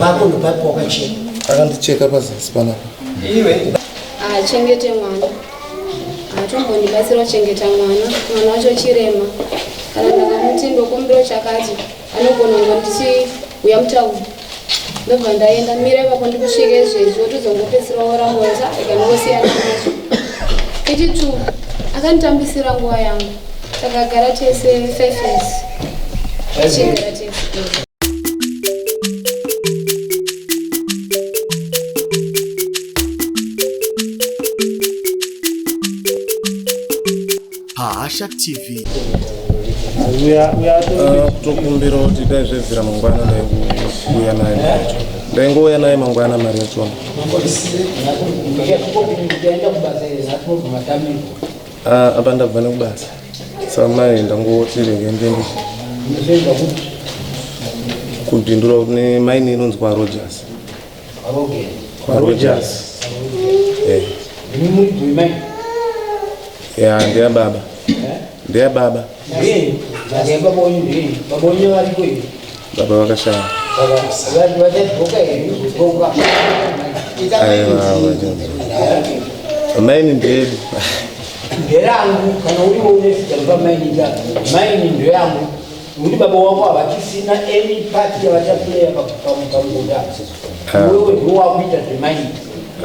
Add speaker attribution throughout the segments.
Speaker 1: Pako ndopapo wakacheka. Akandicheka pazasi
Speaker 2: panapa. Iwe.
Speaker 1: Ah, chengete
Speaker 3: mwana. Atombondibatsira kuchengeta mwana. Mwana wacho chirema. Kana ndakamuti ndokumbira chakati, anogona kunge ndichi uya mutauni. Ndobva ndaenda mira ipapo ndikusvike izvezvi wotozongopedzisira woramboza ikandosiyana nacho. Ichitu akanditambisira nguva yangu. Takagara
Speaker 4: tese 5 years. Tichigara tese. Hasha
Speaker 2: TV. Uh, kutokumbira kuti dai zvebvira mangwana ndaikuuya naye ndaingouya naye mangwana mari yachona Ah, apa ndabva nekubasa samai ndangotirenge ndenge kubindura kune maini inonzi kwarojas kwarojas Eh. ya ndeyababa ndeyababa baba vakashaya amaini ndedu
Speaker 1: nderangu kana uriwo unezita riva maini ndako maini ndeyangu nekuti baba wako havachisina any party yavachapuleya pamugoda wewe ndiwo wakuita zvemaini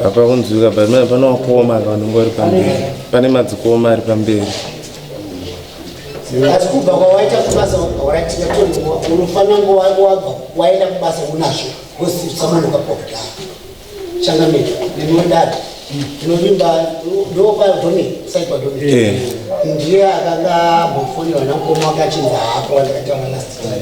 Speaker 1: apa kunzwika
Speaker 2: pamina pane wakoma vanonga vari pamberi pane madzikoma ari pamberi
Speaker 1: asi kubva kwawaita kubasa waratira kuti unofanira ngo wabva waenda kubasa unazvo wosisamunuka kwakudaro changamira nemodada tinovimba ndokwadome saikwadome eh. ndiye akanga ambofonera namukoma wakachinza hako wandakataura last time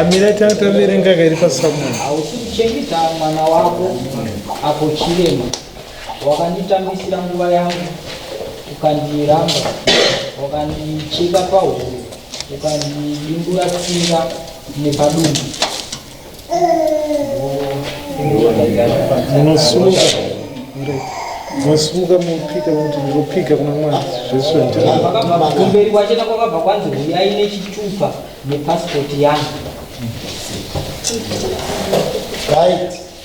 Speaker 5: amire tataverenga kairi pasamuno hausi kuchengeta
Speaker 6: mwana wako apo chirema wakanditambisira nguva yangu ukandiramba wakandicheka pahuro ukandidimbura tsinga nepadumbu
Speaker 5: Munosimuka masimuka mopika kuti ndopika kuna mwari zvese kumberi kwachena
Speaker 6: kwakabva kwanzi huyai nechitupa nepasipoti yangu right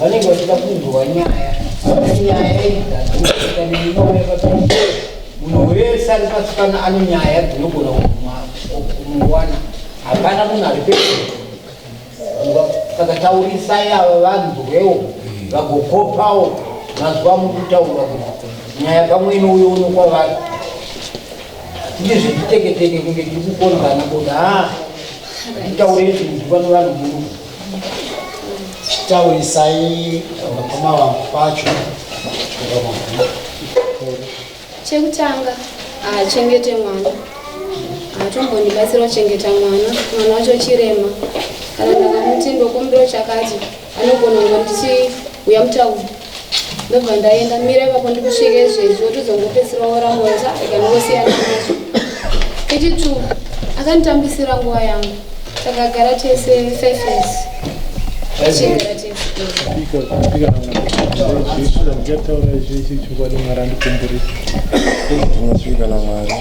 Speaker 1: vanenge vachida kunzwa nyaya nyaya idzaoaaiaai munhu wese ari pasi pano ane nyaya dzinogona kumuwana hapana munhu ari pe saka taurisai ava vanzwewo vagokopawo mazuva mukutaura kuti nyaya pamwe inouyo uno kwavari tine zvetiteketeke kunge tiri kukonzana kuti ha titaure izvi kuti vano vanhu muru chitaurisai vakoma vangu pacho
Speaker 3: chekutanga haachengete mwana haatombondibatsira kuchengeta mwana mwana wacho chirema kana ndakamuti ndokumbiro chakati anogona kungondichi uya mutauri ndobva ndaenda mira ipapo ndikusvika izvezvi wotizongopedzisira woramboza ikanongosiyana
Speaker 5: nazvo iti two akanditambisira nguva yangu takagara tese five years tichigara tese
Speaker 2: ndinozvika namwari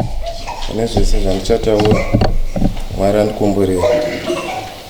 Speaker 2: ane zvese zvandichataura mwari andikumburira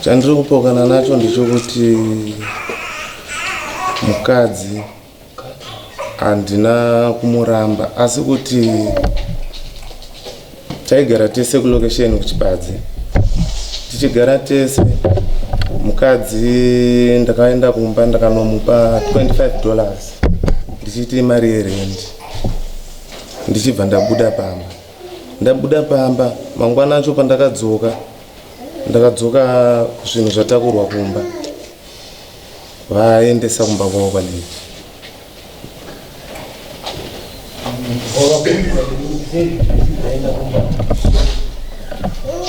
Speaker 2: Chandiri kupokana nacho ndechokuti mukadzi handina kumuramba asi kuti taigara tese kulokesheni kuchibadzi tichigara tese mukadzi ndakaenda kumba ndakanomupa 25 dollars ndichiita imari yerendi ndichibva ndabuda pamba ndabuda pamba mangwana acho pandakadzoka ndakadzoka zvinhu zvatakurwa kumba vaendesa kumba kwavo kwandii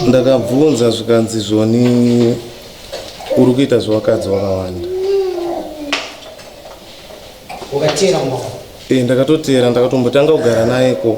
Speaker 2: ndakabvunza zvikanzi zvoni uri kuita zvevakadzi vakawanda
Speaker 7: ndakatoteera
Speaker 2: ndakatombotanga kugara naye ko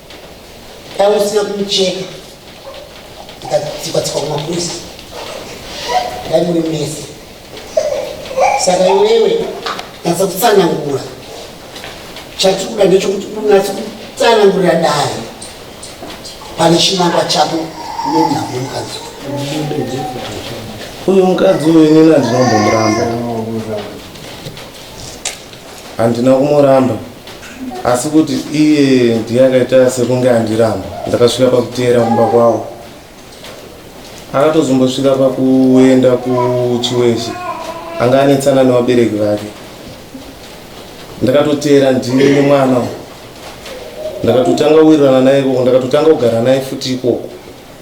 Speaker 7: Dai usina kumucheka ikatsikwa-tsikwa kumapurisa dai muri mese saka iwewe natsa kutsanangura chatiri kuda ndechokuti unatsa kutsanangurira dai pane chinangwa chako nenhamo mukadzi
Speaker 2: uyu mukadzi uyu inini andinombomuramba Handina kumuramba asi kuti iye ndiye akaita sekunge andiramba. Ndakasvika pakuteera kumba kwavo. Akatozombosvika pakuenda kuchiweshe anga anetsana nevabereki vake. Ndakatoteera ndiri nemwana uyu ndakatotanga kuwirirana naye ikoko ndakatotanga kugara naye futi ikoko.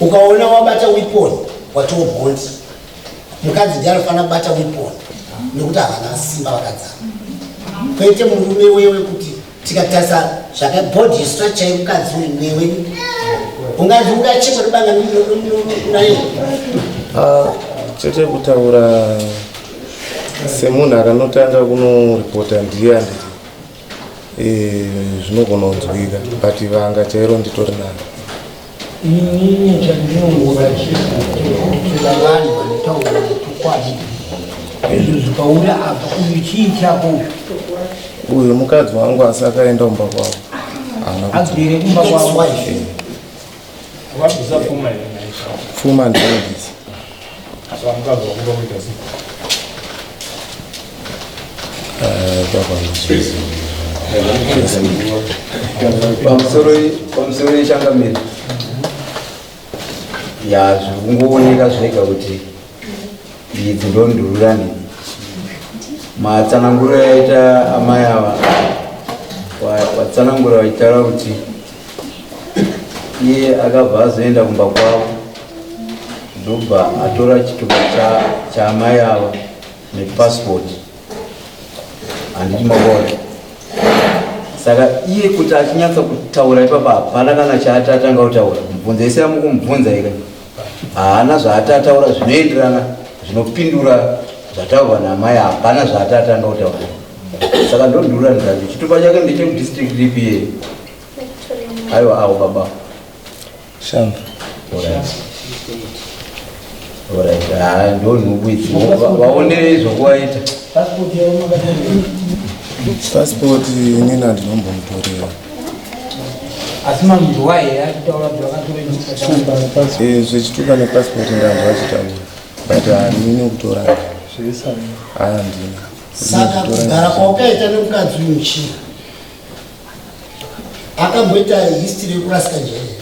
Speaker 7: ukaona wabata weapon watoo bond mukadzi ndiye anofanira kubata weapon nekuti havana simba vakadzana kwete murume wewe kuti tikatarisa zvakabody yestructure yemukadzi uyu newe unganzi ungachekwa ribanga naye ah,
Speaker 2: chete kutaura semunhu akanotanga kunoripota ndiye andii Eh, zvinogona kunzwika but vanga chairo nditori nani inini
Speaker 1: chandinongovachiakutokutsira vanhu vanotaura chokwadi izvo zvikauya apa uyu chii chako uyu
Speaker 2: mukadzi wangu asi akaenda kumba kwavo agere
Speaker 1: kumba kwavo
Speaker 2: Fuma and Davis. So I'm glad
Speaker 8: we're going to see. pamusoro yechangamire ya zvikungooneka zvega kuti idzi ndondururani matsananguro yaita amai ava watsanangura vachitaura kuti iye akabva azoenda kumba kwavo ndobva atora chitupa chaamai ava nepassport handiti mavona saka iye kuti achinyatsa kutaura ipapa hapana kana chaati atanga kutaura mubvunza ese amukumubvunza ika haana zvaati ataura zvinoenderana zvinopindura zvataurwa namai hapana zvaati atanga kutaura saka ndondura ndati chitupa chake ndechekudistrict ripi ye aiwa awo baba
Speaker 2: shamba
Speaker 8: ah, ndonhubu idzi vaonere zvokuvaita
Speaker 2: pasipoti nina ndinombomutorera
Speaker 1: asi mambo waye akutaura kuti vakatora nyika eh, zvechituka
Speaker 2: nepassport ndanzwa achitaura but hamine ah, kutora handina ah,
Speaker 7: saka kugara kwaukaita nemukadzi uyu chii akamboita history yekurasika njere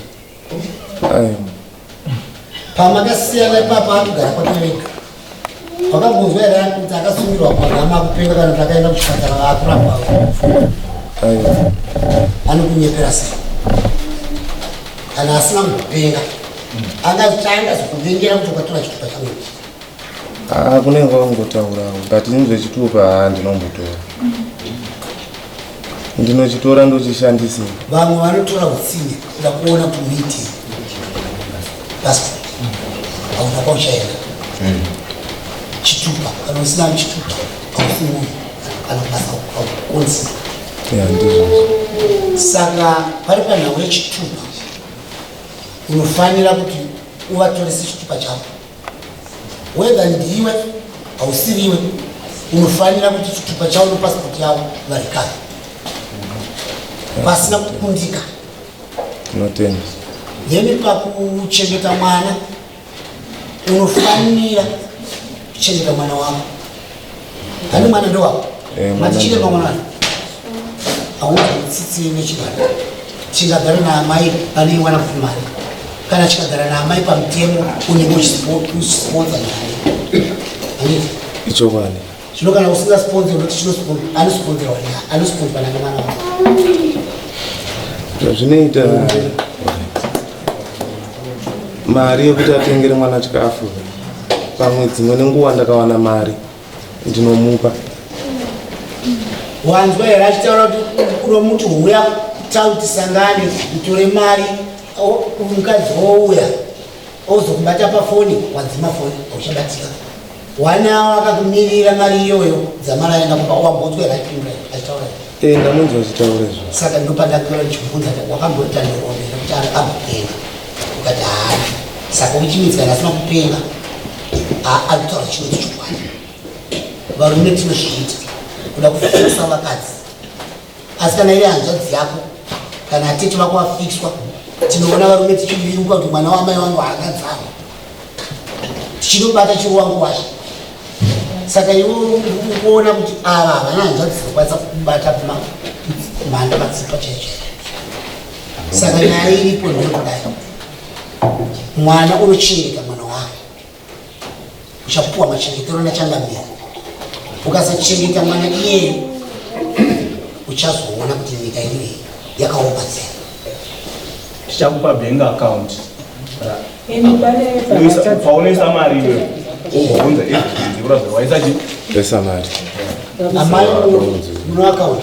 Speaker 7: pamakasiyana ipapo akugara kwakereka wakangonzwa here kuti akasungirwa pagama akupenga kana kuti akaenda kuchipatara vaakurapwa anokunyepera sei kana asina kupenga angazitanga zokuvengera kuti kwatora chitupa changu ah, kunenge
Speaker 2: wangotaurawo but ini zvechitupa handinombotora ndinochitora ndochishandisa vamwe vanotora
Speaker 7: utsinye ndakuona kumiti past hauna kwauchaenda hmm. chitupa kana usina chitupa haufunguyi kana kubasa haukonzi saka pari panhau yechitupa unofanira kuti uvatorese chitupa chavo whether ndiwe hausiriwe unofanira kuti chitupa chavo nepasipoti yavo varikare vasina kukundika tinotenda
Speaker 2: then
Speaker 7: pakuchengeta mwana unofanira kuchengeta mwana wako Kani mwana ndo wako. Eh, mwana chine mwana mwana. Awu tsitsi ne chibanda. Chingagara na amai pane mwana kumari. Kana chikagara na amai pamutemo une mochi sport sponsor naye. Ani. Icho
Speaker 2: bani. Chino kana usinga
Speaker 7: sponsor unoti chino sponsor ani sponsor wani ani sponsor na mwana wako.
Speaker 2: Zvinoita. Mm -hmm. mari yekuti atengere mwana chikafu pamwe dzimwe nenguva ndakawana mari ndinomupa
Speaker 7: wanzwa here achitaura kuti kuno muti huya tautisangane utore mari mukadzi wouya ozokubata pafoni wadzima foni auchabatika One hour akakumirira mari iyoyo dzamara aenda kumba wambotswe right in right achitaura here? Eh ndamunzwa
Speaker 2: achitaura izvo. Saka ndopandakura
Speaker 7: ndichibvunza kuti wakamboita ndirombe nekuti ari amupenga ukati haana saka uchimidza asina kupenga akutaura chinhu chokwadi varume tinozviita kuda kufusa vakadzi asi kana iri hanzvadzi yako kana atete vako vafixwa tinoona varume tichiviruka kuti mwana wamai wangu haakadzama tichitobata chiro wangu washe saka iwe ukuona kuti ava havana hanzvadzi dzakwanisa kubata mhanda matsipa chaichai saka nyaya iripo ndinokudai mwana unochireka mwana wake uchapuwa machengetero nachangamira ukasachengeta mwana iyeyo uchazoona kuti nyika inoyi yakaomba tsera
Speaker 5: tichakupa bank account paunoisa mari iwe unza ezvikurazvawaisa chi esa mari
Speaker 2: amai
Speaker 7: muno account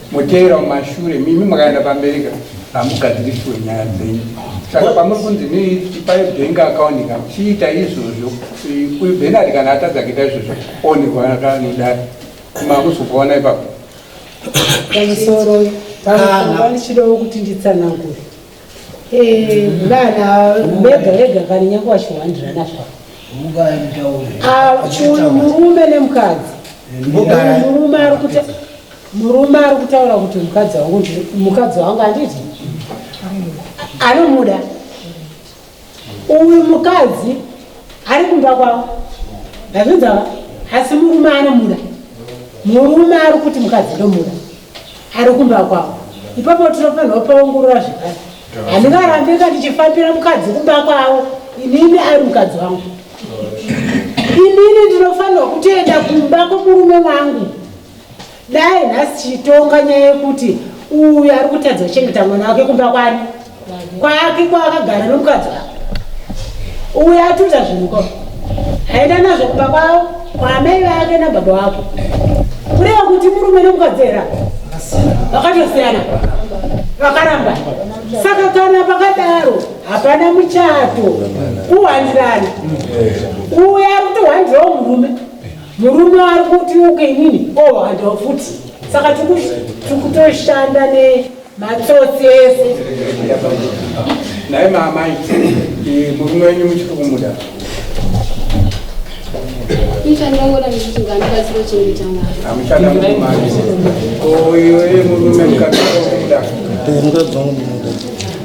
Speaker 9: Motevera mumashure mimi makaenda pamberi ka hamugadziriswe nyaya dzenyu saka pamuri kunzi neipai bank account ka chiita izvozvo uyu benard kana atadza kuita izvozvo onekwa kanodari makuzokuona ipapo
Speaker 10: pamusoro pamusoro ndichidawo kuti nditsanangure eh, vana vega vega kana nyange wachiwandirana zvavo ah, uyu murume nemukadzi eh, murume ari kuti Murume ari kutaura kuti mukadzi wangu ndiri mukadzi wangu handiti anomuda uyu mukadzi ari kumba kwavo azvinzava asi murume anomuda murume ari kuti mukadzi ndomuda ari kumba kwavo ipapo tinofanirwa paongorora zvekare handingarambe ka ndichifambira mukadzi kumba kwavo inini ari mukadzi wangu inini ndinofanirwa kutoenda kumba kwomurume wangu Dai nhasi tichitonga nyaya yekuti uyu ari kutadza kuchengeta mwana wake kumba kwani kwake kwaakagara nomukadzi wake uyu atuta zvinhu ko aenda nazvo kumba kwavo kwaamai vake nababa wako kureva kuti murume nomukadzi era vakatosiyana vakaramba saka kana pakadaro hapana muchato kuhwandirana uyo ari kutohwandirawo murume Murume ari kuti uke inini oh handiwa futi saka tikutoshanda nematsotsi ese
Speaker 9: naye maamai eh, murume wenyu muchiri kumuda amuchadamumaoiwe murume mukatomuda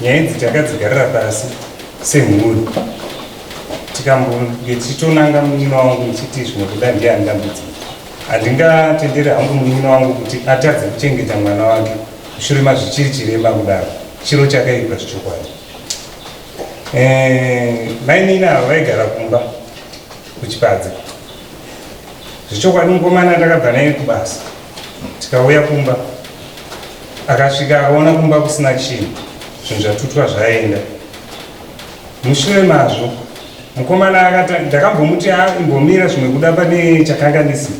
Speaker 11: nyaya idzi takadzigarira pasi semhuri tikambonge tichitonanga munyina wangu ndichiti zvimwe kuda ndiye andambudzi handingatendere hangu munyina wangu kuti atadze kuchengeta mwana wake mushure mazvichiri chirema kudaro chiro chakaipa zvichokwadi eh, mainina ava vaigara kumba kuchipadza zvichokwadi mukomana ndakabva naye kubasa tikauya kumba akasvika akaona kumba kusina chinhu zvinhu zvatutwa zvaenda mushure mazvo mukomana akati ndakambomuti aimbomira ah, zvimwe kuda pane chakanganisi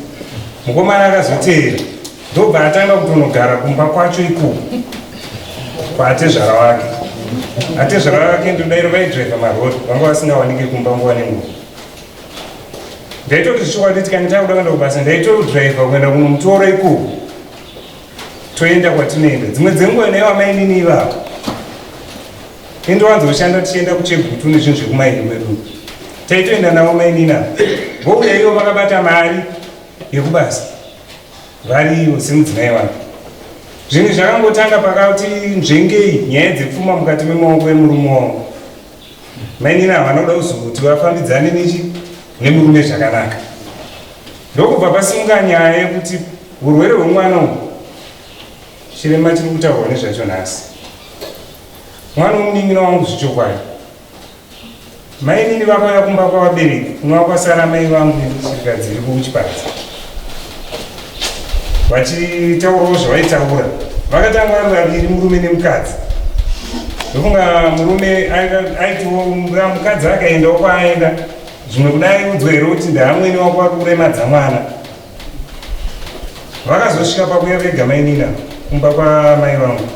Speaker 11: mukomana akazoteera ndobva atanga kutonogara kumba kwacho ikoko kwaatezvara wake atezvara wake ndodairo vaidriva marori vanga vasingawanike kumba nguva nenguva ndaitoti zvichokwadi kuti kana takuda kuenda kubasa ndaitodriver kuenda kunomutora ikoko toenda kwatinoenda dzimwe dzenguva naivo amainini ivavo indowanza kushanda tichienda kuchegutu nezvinhu zvekumaini kwedu taitoenda navo mainini avo vouya ivo vakabata mari yekubasa variivo semudzimai wavo zvinhu zvakangotanga pakati nzvengei nyaya dzepfuma mukati memaoko emurume wangu Mainini ava vanoda kuzoti vafambidzane nechi nemurume zvakanaka ndokubva pasimuka nyaya yekuti urwere hwemwana uhu chirema chiri kutaurwa nezvacho nhasi mwana womunin'ina wangu zvichokwadi mainini vakauya kumba kwavabereki kunova kwasara mai vangu nechirikadzi iriko kuchipadza vachitaurawo zvavaitaura vakatanga vari vaviri murume nemukadzi ndofunga murume aitiwo mukadzi akaendawo kwaaenda zvimwe kudai udzwa here kuti ndaamwene wako vari kuremadza mwana vakazosvika pakuya vega mainina kumba kwamai vangu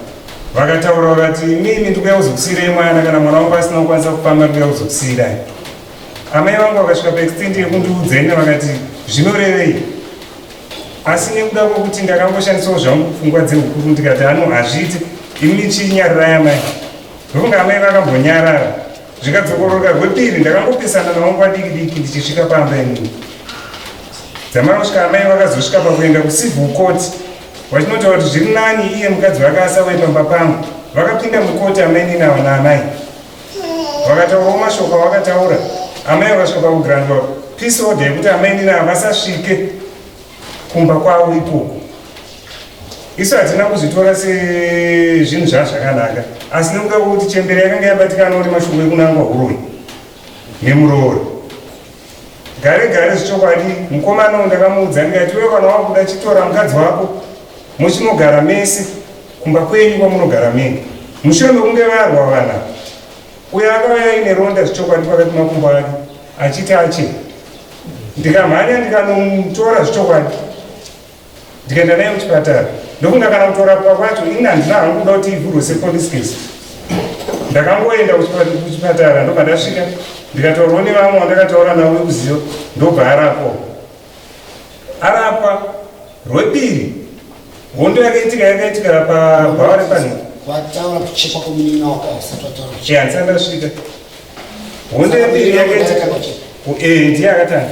Speaker 11: vakataura vakati mimi ndikuya kuzokusiirai mwana kana mwana wangu asina kukwanisa kufamba ndikuya kuzokusiirai Amai vangu vakasvika paextent yekundiudza ine vakati zvinorevei asi nekuda kwekuti ndakangoshandisawo zvangu pfungwa dzeukuru ndikati ano hazviite ini nichinyarirai amai ndokunge amai vakambonyarara zvikadzokoroka rwepiri ndakangopesana navo nguva diki diki ndichisvika pamba inini dzamara kusvika amai vakazosvika pakuenda kucivil court vachinotaura kuti zviri nani iye mukadzi vake asauye pamba pangu vakapinda mukoti amainini ava naamai vakataurawo mashoko avakataura amai vakasvika pakugrandwa peace order yekuti amai nina havasasvike kumba kwavo ikoko isu hatina kuzvitora sezvinhu zvaa zvakanaka asi nekuda kwekuti chembere yakanga yabatikana kuti mashoko ekunangwa huroyi nemuroori gare gare zvichokwadi mukomana uyu ndakamuudza ndikati iwe kana wakuda chitora mukadzi wako muchinogara mese kumba kwenyu kwamunogara mene mushure mekunge varwa vana uyo akauya aine ronda zvichokwadi pakati makumbo ake achiti ache ndikamhanya ndikanomutora zvichokwadi ndikaenda naye kuchipatara ndofunga kana kutorapwa kwacho ini handina hangu kuda kuti ivhurwe sepolice case ndakangoenda kuchipatara ndobva ndasvika ndikataurwa nevamwe wandakataura navo vekuziva ndobva arapwa arapwa rwepiri hondo yakaitika yakaitika pabhawa repanhika
Speaker 7: handisati ndasvika
Speaker 11: honde mbiri yakaita eh, ndiye akatanga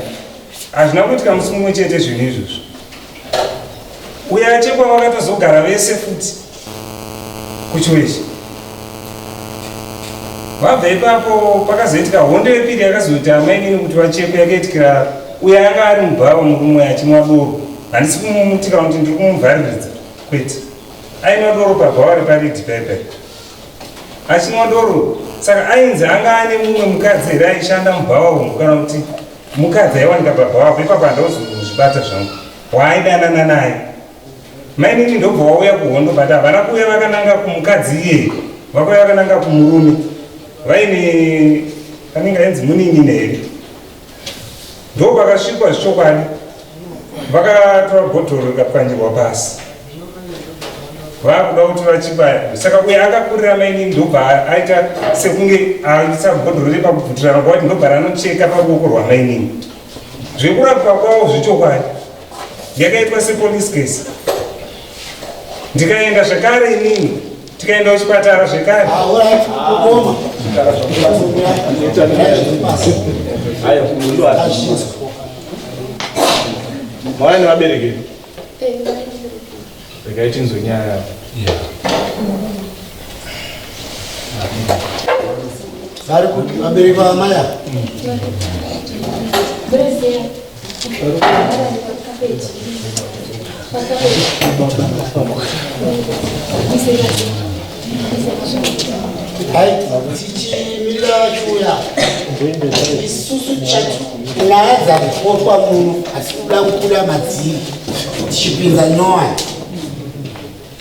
Speaker 11: hazvina kuitika musi mumwe chete zvinhu izvozvo uye achekwa vakatozogara vese futi kuchiwechi vabva ipapo pakazoitika hondo yepiri yakazoiti amainini kuti vachekwe yakaitikira uye anga ari mubhawa murume achimwa doro handisi kumumutika kuti ndiri kumuvhariridza kwete ainwa doro pabhawa reparidi paipai Achimondoro saka ainzi anga ane mumwe mukadzi here aishanda mubhawa umu kana kuti mukadzi aiwanika pabhawa apo ipapo handauzozvibata zvangu waaidanana naye mainini ndobva wauya kuhondo but havana kuuya vakananga kumukadzi iyeye vakuuya vakananga kumurume vaine anenge ainzi munin'ina here ndo vakasvikwa zvichokwadi vakatora bhodhoro rikapwanyirwa pasi vakuda kutora chibaya saka uye akakurira maini ndobva aita sekunge aisa bhodhoro repakubvutirana kwavati ndobva ranocheka paruoko rwamainini zvekurapwa kwavo zvechokwadi yakaitwa sepolice case ndikaenda zvekare inini tikaenda kuchipatara zvekare
Speaker 5: mwana nevabereki regai tinzwe nyaya yavo
Speaker 7: vari kuti vabereki vamaya isusu nyaya dzakupotwa muno asi kuda kubuda madziri tichipinza nyowani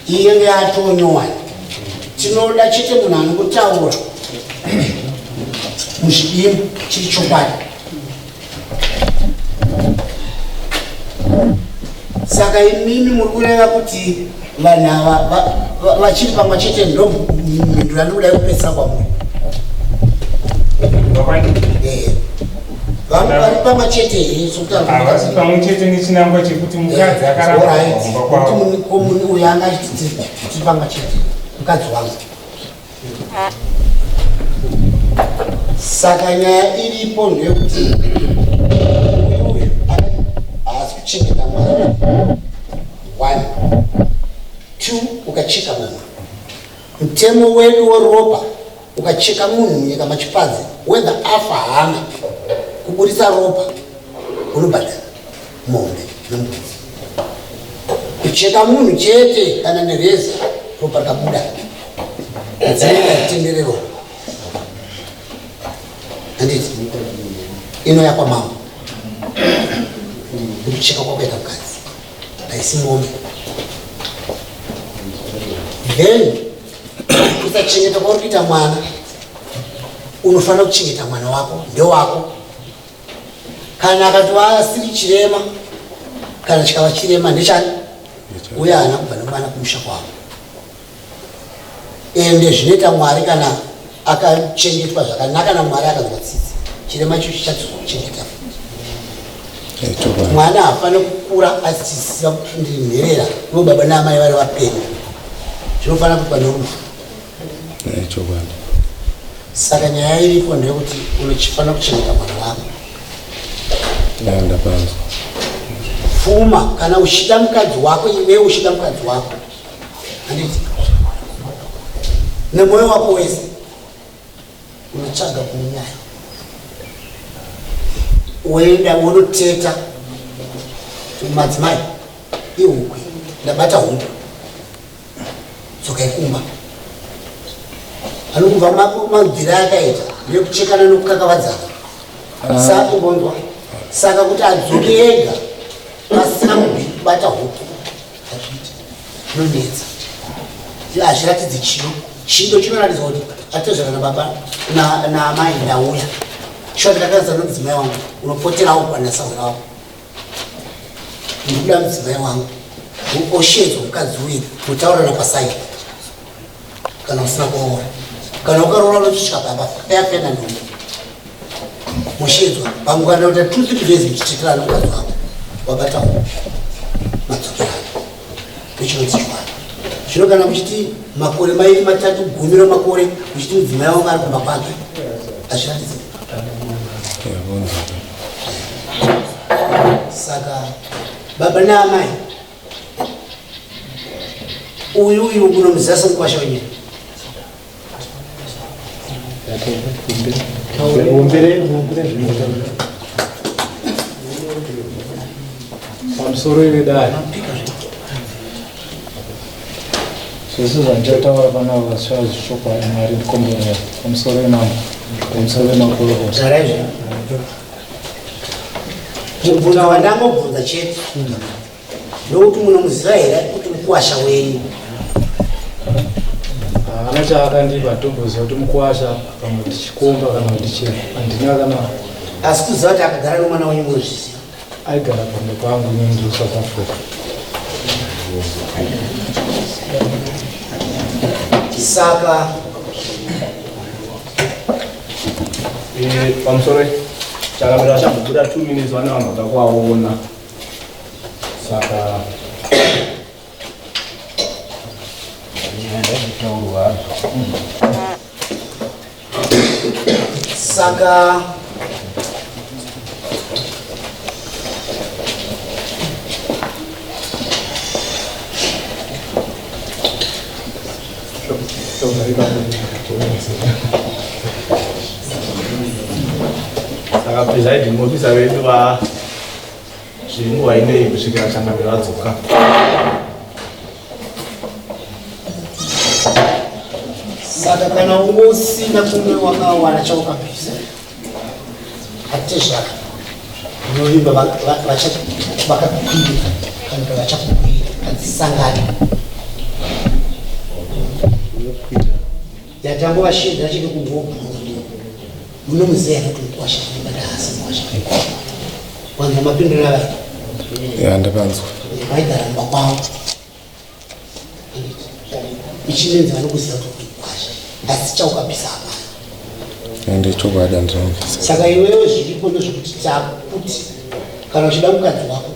Speaker 7: iye ngeatonyowani tinoda chete munhu anokutaura muchidimbu chiri chokwadi saka imimi muri kureva kuti vanhu ava vachiri pamwe chete ndo mhindura ndikuda kupesa kwamuri eh, vari pamwe chete here sokuti pamwe
Speaker 11: chete nechinangwa chekuti mukadzi eh, akaraaomuni
Speaker 7: uyo anga achititi pamwe chete mukadzi wangu saka nyaya iripo ndeyekuti uyu uyu haasi kuchengeta mwana one two ukacheka munhu mutemo wedu weropa ukacheka munhu munyika machipadzi wethe afa hana kuburitsa ropa unobhadhara mombe nembudzi kucheka munhu chete kana nereza ropa rikabuda adzimai atenderero anditi ino yakwa mambo kucheka kwakuita mukadzi haisi mombe then kusachengeta kwauri kuita mwana unofanira kuchengeta mwana wako ndewako kana akatova asiri chirema kana chikava chirema ndechani uye haana kubva nemwana kumusha kwavo ende zvinoita mwari kana akachengetwa zvakanaka namwari akanzwa tsitsi chirema icho chichadzoka kuchengeta futi mwana hafane kukura asisiza kuti ndiri nherera ivo baba naamai vari vapenyu zvinofanira kuitwa norufu Eh, chokwadi saka nyaya iripo ndeyekuti unochifanira kuchengeta mwana wako eh, ndapanzwa pfuma kana uchida mukadzi wako iwe uchida mukadzi wako handiti nemwoyo wako wese unotsvaga kunyaya woenda wonoteta madzimai ihuku ndabata huku dzokai kumba ano kubva mabvira akaita nekuchekana nokukakavadzana ah. saka bonzwa saka kuti adzoke ega pasina kubata huku hazviiti zvinonetsa hazviratidzi chino chido chinoratidza kuti atezvana nababa naamai ndauya shoti rakazana mudzimai wangu unopoterawo kwana sahura wako ndikuda mudzimai wangu uoshedzwa mukadzi uye mutaurana pasai kana usina kuroora kana ukaroora unochitya baba ayapena ndombo mushedzwa vangu kana kuita two three days muchiteterana mukadzi wako wabatawo madzokera ndichinonzi chiwana zvino kana muchiti makore mairi matatu gumi ramakore muchiti mudzimai wangu ari kumba kwake azviratidzi saka baba naamai uyu uyu unomuzasa mukwasha wenyika pamusoro
Speaker 5: ivedari zvese zvandichataura panavo vasvava zvichokwadi mwari ndikomborera pamusoro wemambo pamusoro wemakorokota zvaraizvo
Speaker 7: mubvunzo wandangobvunza chete ndokuti munomuziva here kuti mukuwasha wenyu
Speaker 5: haana ah, chaakandipa ndokuziva kuti mukuwasha kana kuti chikomba kana kuti chii handina kana asi kuziva
Speaker 7: kuti akagara nomwana wenyu munozviziva aigara kumba
Speaker 5: kwangu inini ndiri south africa saka eh,
Speaker 12: pamusoro chakamira chambobuda two minutes vane vanhu vakakuvaona saka ndazvitaurwa
Speaker 7: saka
Speaker 12: saka presiding officer vedu va zvinguva inei kusvikira changamiro adzoka
Speaker 7: saka kana ungo usina kumwe wakawana chaukapisa hatizvaka unovimba vakakupira kana ka vachakupira hadzisangani Yatambo vashiri rachiri kungobhurundi muno muzeya kuti mukwasha but haasi mukwasha wanzwa mapindura vaya ya ndakanzwa
Speaker 2: vaigara
Speaker 7: mumba kwavo ichinenzi vanokuziva kuti mukwasha asi chaukabvisa hapana ende chokwadi
Speaker 2: andinobvisa saka iwewe zviripo
Speaker 7: ndozvekuti takuti kana uchida mukadzi wako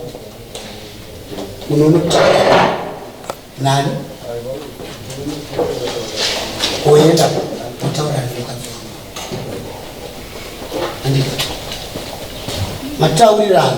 Speaker 7: unonotaa Nani? Oyenda kutaura nemukadzi wangu. Andika. Mataurirana.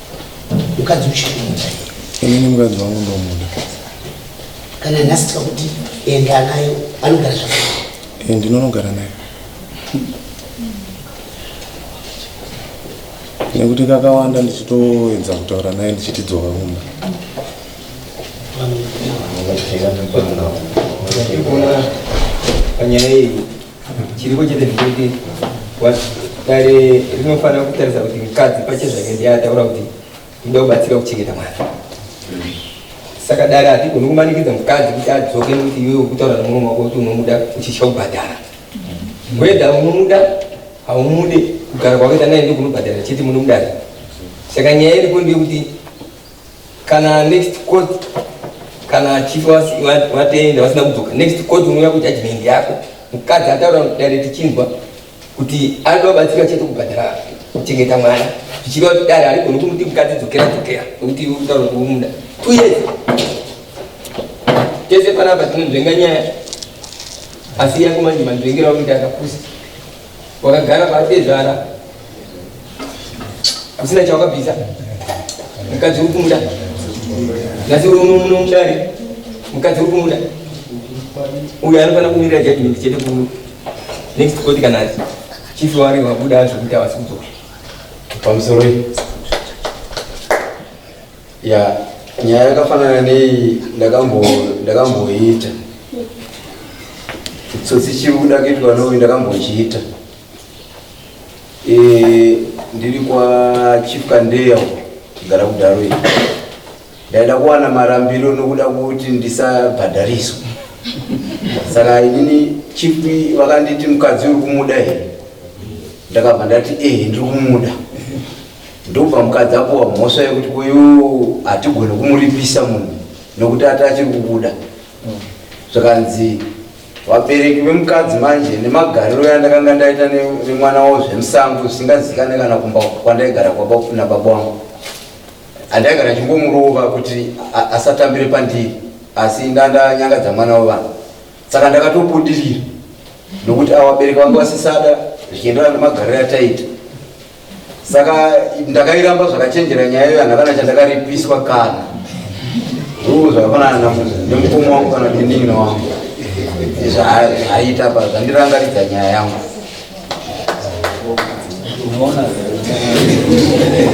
Speaker 7: mukadzi uchikumuda inini mukadzi
Speaker 2: wangu ndomuda
Speaker 7: kana nhasi tikakuti enda nayo anogara zvakanaka eh, ndinonogara
Speaker 2: nayo nekuti kakawanda ndichitoedza kutaura naye ndichitidzoka kumba
Speaker 13: panyaya iyi chiriko chete ndikuti dare rinofanira kutarisa kuti mukadzi pache zvake ndiye ataura kuti inoda kubatsira kuchengeta mwana saka dare hatigoni kumanikidza mukadzi kuti adzoke nekuti iwe ukutaura nemurume wako kuti unomuda uchitya kubhadhara weda unomuda haumude kugara kwakaita naye ndokunobhadhara chete munomudare saka nyaya iriko ndeyekuti kana next court kana chief vatenda vasina kudzoka next court unouya kujudgment yako mukadzi ataura dare tichinzwa kuti anoda kubatsira chete kubhadhara kuchengeta mwana zvichiva kuti dare harigoni kumuti mukadzi dzokera dzokera nokuti utaura kuumunda two years tese panapa tinonzvenga nyaya asi yangu manje manzvengera kuti akapusa Wakagara patezvara usina chawakabvisa mukadzi uri kumuda nhasi uri uno muno mudare mukadzi uri kumuda uyo anofanira kumirira judgment chete kuru next court kana ati chief wari wabuda zvekuti havasi kudzoka pamusoro
Speaker 8: ya nyaya yakafanana nei ndakamboiita tsotsi chiuda kuitwa noi ndakambochiita e, ndiri kwachief kandeya kugara kudaro i ndaida kuwana marambiro nokuda kuti ndisabhadhariswa saka inini chief vakanditi mukadzi uri kumuda here ndakabva ndati ehe ndiri kumuda Ndobva mukadzi apuwa mhosva yekuti uyu hatigone kumuripisa munhu nokuti ati achiri kubuda zvikanzi vabereki vemukadzi manje nemagariro yandakanga ndaita nemwana wavo zvemusango zvisingazikane kana kumba kwandaigara na baba wangu handaigara chingomurova kuti asatambire pandiri asi ndandanyangadza mwana wevanhu saka ndakatobudirira nokuti awabereki vange vasisada zvichienderana nemagariro yataita saka ndakairamba zvakachenjera nyaya iyo handakana chandakaripiswa kana uu zvakafanana namuza nemukoma wangu kana nenin'ina wangu izvo haiita pa zvandirangaridza nyaya yangu
Speaker 14: Thank you.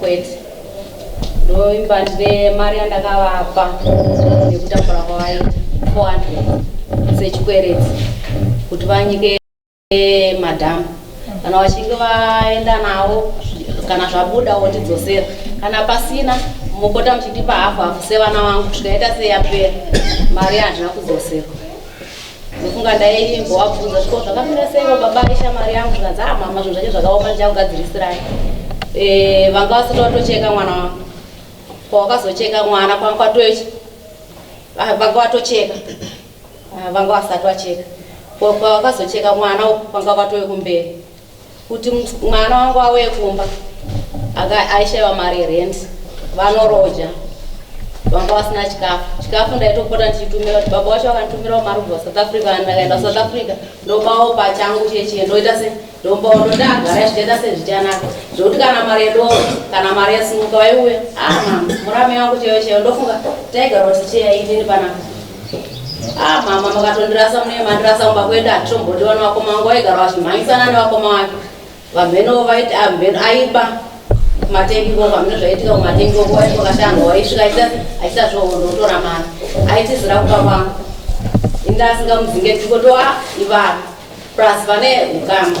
Speaker 3: kwete ndoimba ndine mari yandakavapa nekutambura kwavaita 400 sechikwereti kuti vanyike madhamu kana vachinge vaenda navo kana zvabuda wotidzosera kana pasina mopota muchindipa hafu hafu sevana vangu zvikaita seyapera mari handina kudzoserwa ndofunga ndaimbovabvunza zviko zvakamira seivo baba ishamari yangu zvikanzi a ah, mama zvinhu zvacho zvakaoma ndichakugadzirisirai e, vanga vasati vatocheka mwana wangu kwawakazocheka mwana kwanga kwatochi ah, vanga vatocheka ah, vanga vasati vacheka kwawakazocheka mwana kwanga kwatove kumberi kuti mwana wangu auye kumba aishaiwa mari yerent vanoroja vanga vasina chikafu chikafu ndaitopota ndichitumira kuti baba wacho vakanditumirawo mari kubva south africa kana ndakaenda south africa ndopawo pachangu chechie ndoita se ndombawo ndondagara zvichienda sezvichanaka zvekuti kana mari yedo kana mari yesimuka vaiuya ah murame wangu cheyo cheyo ndofunga taigara kuti cheya inini panapa Ah mama makatondirasa mune mandirasa kumba kwedu hatitombotiona vakoma vangu vaigara vachimhanyisana nevakoma vake vamhenovo vaiti amheno ah, aiba kumatengi koko vamheno zvaiitika kumatengi koko waiti wakashanga waisvika aita zvoondotora mari aitizira kupa vangu inda asingamuzinge tikotoa ah, ivana plus vane ukama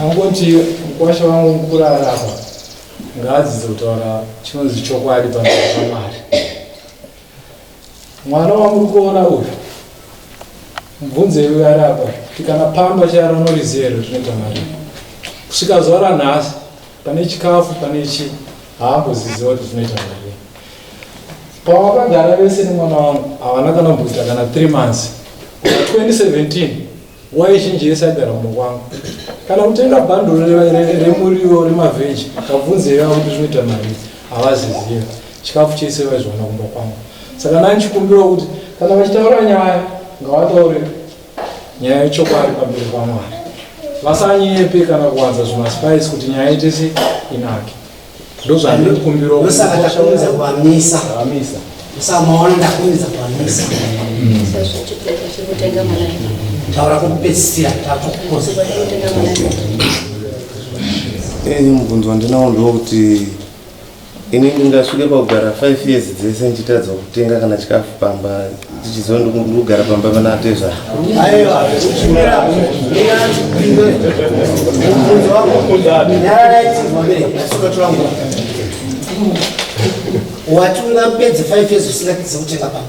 Speaker 5: angoti mukwasha wangu mukurara apa ngaadzidze kutaura chinonzi chokwadi pamberi pamwari mwana wamuri kuona uyu mubvunzei uyo ari apa kuti kana pamba charo norizero tinoita mari kusvika zuva ranhasi Pane chikafu pane chi haamboziziva kuti zvinoita mari. Pawakagara vese nemwana wangu havana kana mbuta kana 3 months. 2017 wai zhinji yese agara mumwe kwangu. Kana kutenga bhanduru remuriwo remavheji kabvunze yava kuti zvinoita mari havaziziva. Chikafu chese vaizviwana kumba kwangu. Saka nani chikumbiro kuti kana vachitaura nyaya ngavataure nyaya yechokwadi pamberi pamwari vasanyepe kana kuwanza zvimaspice kuti nyaya itese inake ndozvandiri kukumbira ndosaka takuunza kuamisa amisa ndosaka maona ndakuunza kuamisa
Speaker 2: taura kokupedzisira takukoza mubvunzo wandinawo ndewekuti ini ndingasvike pakugara five years dzese ndichitadza kutenga kana chikafu pamba ndichiziva ndikugara pamba pana atezvaa
Speaker 7: wati ungapedze five years usingatizi kutenga pamba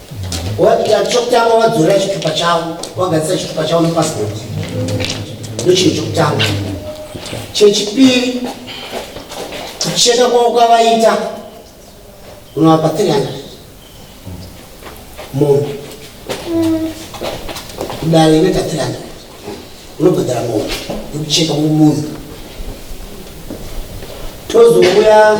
Speaker 7: Wabika chokutanga wadzorera chitupa chavo wagadzisa chitupa chavo nepassport ndochinhu chokutanga chechipiri kucheka kwavo kwavaita unovapa 300 munhu kudare inoita 300 unobhadhara munhu yekucheka mumunhu tozouya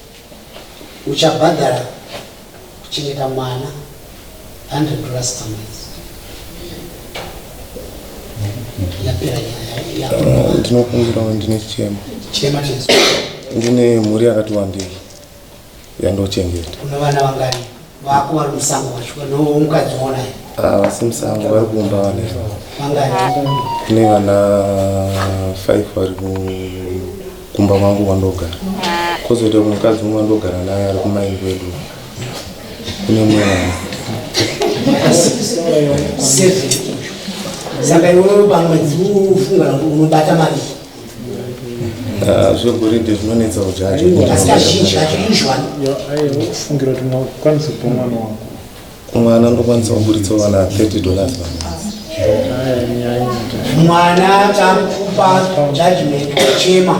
Speaker 7: uchabhadhara kuchengeta mwana 100 dollars per month yapera nyaya ndinokumbirawo ndine
Speaker 2: chichema chema chesu ndine mhuri yakati wandei yandochengeta kuna vana
Speaker 7: vangani vako vari musango wacho
Speaker 2: vanoumukadzi wonaye vasi
Speaker 7: musango
Speaker 2: vari kumba vane kune vana five vari kumba kwangu kwandogara kozoita mukadzi umwe wandogara naye ari kumaini kwedu kune mwana
Speaker 7: saka iwe pamwedzi ufunga unobata mari Ah,
Speaker 2: zvegoridhe zvinonetsa kuti asi kazhinji kacho
Speaker 7: usually kufungira
Speaker 5: kuti ungakwanisa kupa mwana wako mwana
Speaker 2: anokwanisa kuburitsa vana 30 dollars
Speaker 7: mwana takupa judgment kuchema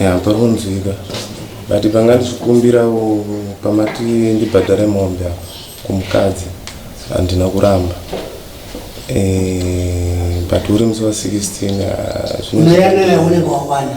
Speaker 2: ya pari kunzwika but panga ndichikumbirawo pamati ndibhadhare mombe apa kumukadzi handina kuramba eh, but uri musi wa 16 ah, zvino- Mweya naye unenge
Speaker 7: wawana.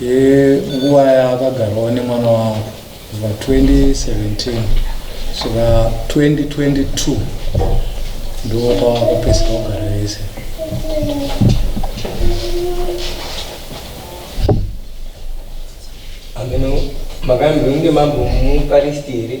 Speaker 5: yenguva yaakagarawo nemwana wangu kubva 2017 svika 2022 ndokwakapedzisa kugara vese
Speaker 13: hameno makambinge mambomupa risti here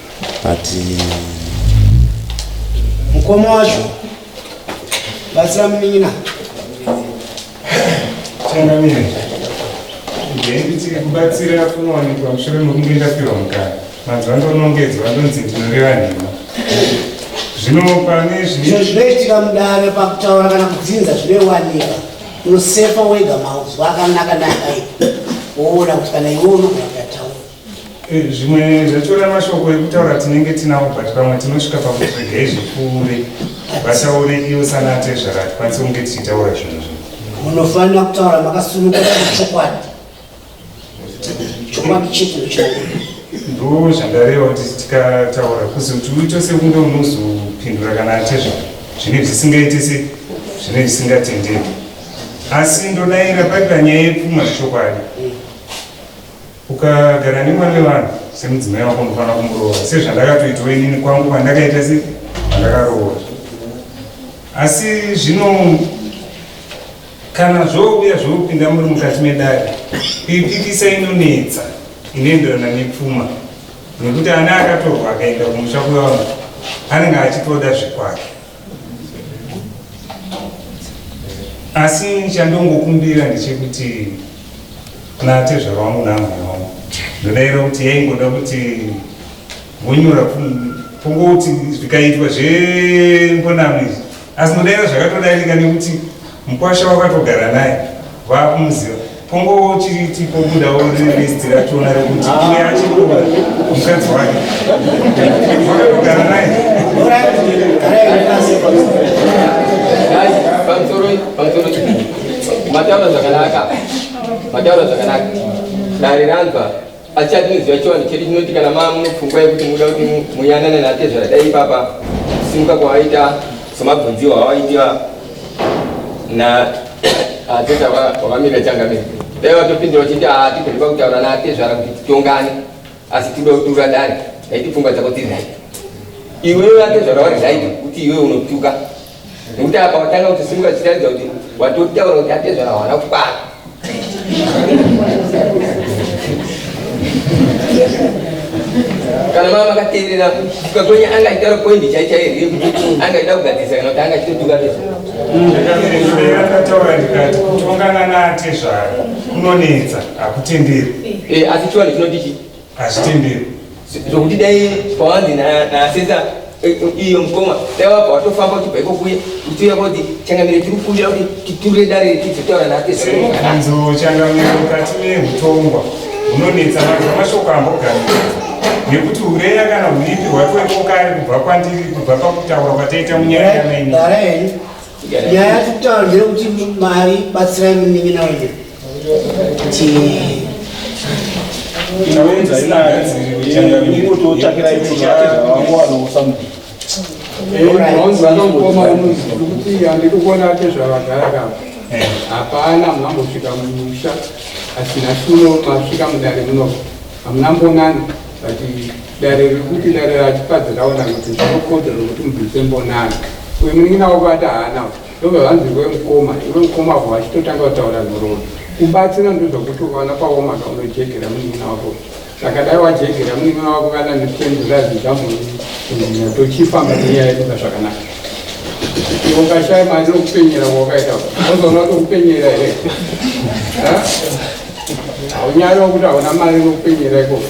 Speaker 2: but
Speaker 7: mukoma wacho batsira munin'ina
Speaker 11: changamire ndaimbitike kubatsira kunowanikwa mushure mekunge ndapirwa mukana mazuva ndonongedzwa ndonzi ndinoreva nhema zvino pane zvino zvinoitika
Speaker 7: mudare pakutaura kana kudzinza zvinoiwanika unosefa wega mauzwa akanaka nakai woona kuti kana iwe unogona Eh, zvimwe
Speaker 11: zvatora mashoko ekutaura tinenge tinawo but pamwe tinosvika pakuti regai zvipfuure vataure iyo sana atezvara hatikwanise kunge tichitaura zvinhu zvino munofanira kutaura
Speaker 7: makasununguka chokwadi chokwadi
Speaker 11: chete ndocho ndo zvandareva kuti tikataura kuzi kuti uito sekunge unozopindura kana atezvara zvine zvisingaite se zvine zvisingatendeki asi ndodaira paita nyaya yepfuma zvechokwadi Ukagara nemwana wevanhu semudzimai wako unofanira kumuroora sezvandakatoitawo inini kwangu kwandakaita se vandakaroora asi zvino kana zvouya zvokupinda muri mukati medare kuipikisa inonetsa inoenderana nepfuma nekuti ana akatorwa akaenda kumusha kwevanhu anenge achitoda zvekwake asi chandongokumbira ndechekuti natezvara wangu naamai wangu ndodaira kuti yaingoda kuti vonyora pongoti zvikaitwa zvembonamo izvi asi ndodaira zvakatodarika nekuti Mkwasha wakatogara naye vakumuziva pongowo chiri tipobudawo list rationa rekuti iye achikuba mukadzi wake vakatogara naye mataura zvakanaka mataura
Speaker 13: zvakanaka dare ranzwa Pachati tinoziva chivanhu chedu chinoti kana maa munopfungwa yekuti muda kuti muyanane natezvara dai ipapa kusimuka kwawaita somabvunziwa awaitiwa na ateta wavamira changamira dai vatopindira vachiti haa tigoipa kutaura natezvara kuti titongane asi tida kuti uradare daiti pfungwa dzako dziri right iwewe atezvara wari right kuti iwewe unotuka nekuti apa watanga kutosimuka zvichiratidza kuti watotaura kuti atezvara hawana kukwana kana mama akateerera kusvika kwenye anga aitaura poindi chaichaiyo here kuti anga aida kugadzirisa kana kuti anga achitotuka tezvara ndakataura
Speaker 11: ndikati kutongana naatezvara kunonetsa hakutenderi asi chivanhu chinoti
Speaker 13: chii hazvitenderi
Speaker 11: zvokuti
Speaker 13: dai pawanzi nasesa eh, eh, iyo mukoma dai wabva watofamba uchibva ikokuye uchiuya kuti changamire tiri kukumbira kuti titure dare tizotaura nateanzo
Speaker 11: changamire mukati meutongwa hunonetsa mazva mashoko ambogaria nekuti ureya kana uripi hwatoiko kare kubva kwandiri kubva pakutaura kwataita munyaya yamaini nyaya
Speaker 7: yatitaura ndeyekuti mari batsirai munin'ina wenyu
Speaker 9: hapana mambosvika mumusha asina suno masvika mudare muno hamuna mbonana but dare rekuti dare rachifadzi raona kuti zvinokodzera kuti mubvise mbonana uyu munin'ina wako ati haana kuti Ndobva vanzi iwe mukoma, iwe mukoma avo vachitotanga kutaura nhoroondo. Kubatsira ndozvokuti ukaona paomaka unojegera munin'ina wako. Zvakadai wajegera munin'ina wako kana nechembura zvigamuri kunyanya tochifamba nenyaya yedu zvakanaka. Iwe ukashaya mari nokupenyera kwawakaita unozoona kuti ukupenyera here? Haunyari wokuti hauna mari nokupenyera ikoko.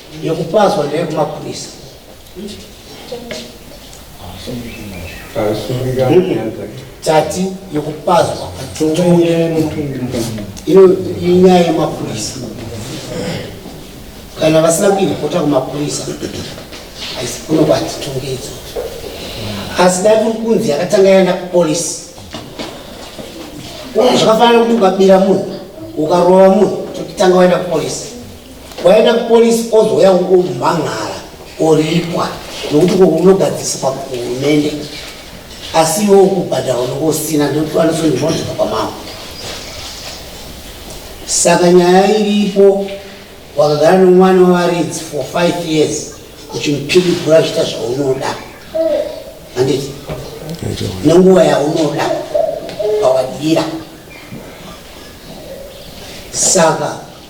Speaker 7: yekupazwa ndeyekumapurisa tati yekupazwa ino inyaya yemapurisa kana vasina kuiripota kumapurisa kunobva titungidzo asi dai kuri kunzi yakatanga yaenda kupolisi zvakafanana kuti ukabira munhu ukarova munhu tokutanga waenda kupolisi waenda kupolisi ozouya umhan'ara oripwa nokuti ko unogadziswa kuhurumende asi iwe ukubhadhara unenge usina ndoanosondimonzwa kwamao saka nyaya iripo wakagara nomwana wavaridzi for five years uchimupirigura zviita zvaunoda handiti nenguva yaunoda pawadira saka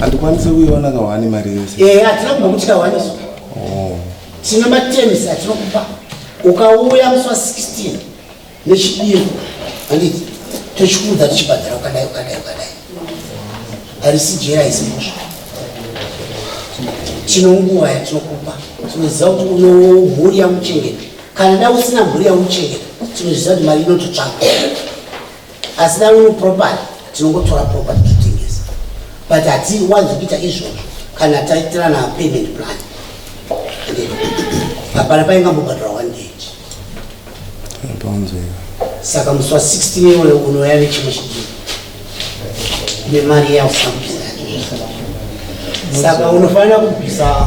Speaker 7: handikwanise
Speaker 2: kuiona kahwani mari yese eh, hatina kumba kuti kahwani
Speaker 7: oh. tine matenisi atinokupa ukauya musi wa 16 nechidiro anditi tochikuudza tichibhadhara ukadai ukadai ukadai harisi jera haisi mosva tino nguva yatinokupa tinoziva kuti unomhuri yamuchengete Kana dai usina mhuri yauchengeta tinozviziva kuti mari inototsvagwa asi dai uri property tinongotora property totengesa but hatiwanzi kuita izvozvo kana taitirana payment plan hapana painga mbobhadhara one date saka musi wa 16 iwoyo unouya nechimwe chidii nemari yausina kubvisa saka unofanira kubvisa